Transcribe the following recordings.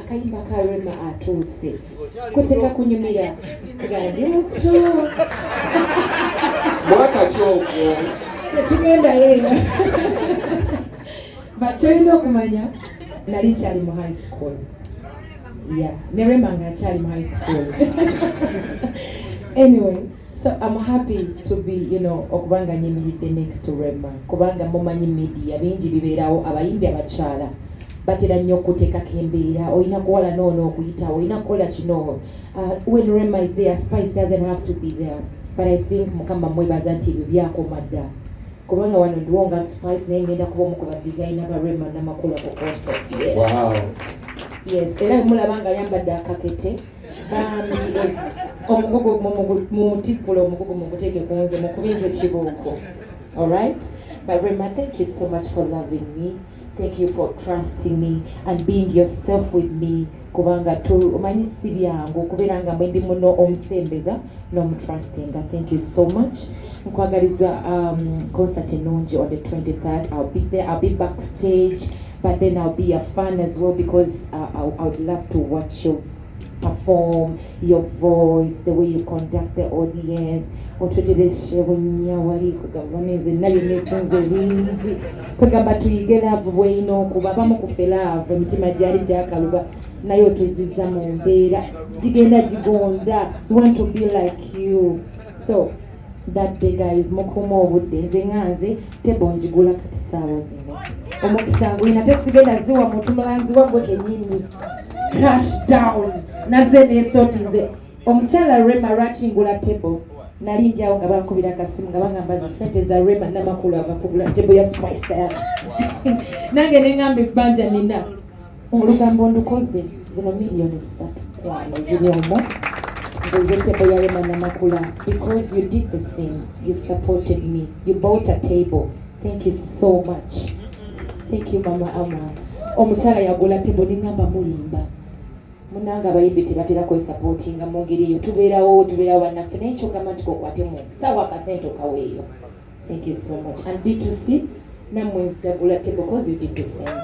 akayimba ka Rema atuuse kuteka kunyumira radioto mwaka kyogwo tekigendayo eno bakyolina okumanya nali nkyali mu high school ya ne Rema nga akyali mu high school anyway So I'm happy to be, you know, okubanga nyimiridde next to Rema kubanga mumanyi media bingi bibeerawo abayimbi abakyala batera nnyo okuteekako embeera olina kuwala noono okuyitawo olina kukola kino uh, when Rema is there spice doesn't have to be there but I think mukama mwebaza nti ebyo byakoma dda kubanga wano ndiwo nga spice naye ngenda kuba omu ku ba designer ba Rema namakula ku concerts yeah. wow. yes era mulaba nga ayambadde akakete omugugu mumutikkule omugugu mumuteke ku nze mukube nze kibuuko alright but rema thank you so much for loving me thank you for trusting me and being yourself with me kubanga omanyi si byangu okubeera nga mwendi muno omusembeza n'omutrustinga thank you so much nkwagaliza um, concert ennungi on the 23rd i'll be there i'll be backstage But then I'll be a fan as well because I, I, I would love to watch you perform, your voice, the way you conduct the audience. otutereshe bunya wali kwegamba neze nali nesinze bingi kwegamba tuyige laavu bweyina okuba abamu kufe laavu emitima gyali gyakaluba naye otuziza mu mbeera gigenda gigonda want to be like you so that day guys mukuuma obudde nze nga nze tebo njigula kati saawa zino omukisa ngulina tesigenda ziwa muntu mulanzi wagwe kenyini cash down naze nesoti nze omukyala rema lwakingula tebo nali njawo nga bankubira akasimu nga bagamba zo sente za rema namakulu ava kugula tebo ya spice diana nange nengamba ebbanja nina olugambo ndukoze zino miliyoni ssatu kwano ziri omwo nzenteko yalema namakula because you did the same you supported me you bought a table thank you so much thank you mama ama omukyala yagula table ningamba mulimba munanga abayimbi tebatera kwesapootinga mu ngeri eyo tubeerawo tubeerawo bannaffe naye kyogamba nti kokwate mu nsawo akasente okaweeyo Thank you so much. And D2C, namwe nzijagula table because you did the same.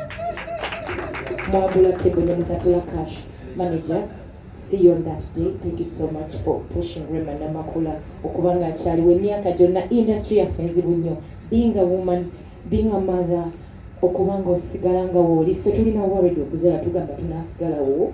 Mwagula table ne musasula cash. Manager, see you on that day. Thank you so much for pushing Rema Namakula okuba nga akyaliwo emyaka gyonna industry yaffe nzibu nnyo. Being a woman, being a mother, okuba nga osigala nga wooli, ffe tulina worried okuzala tugamba tunaasigalawo.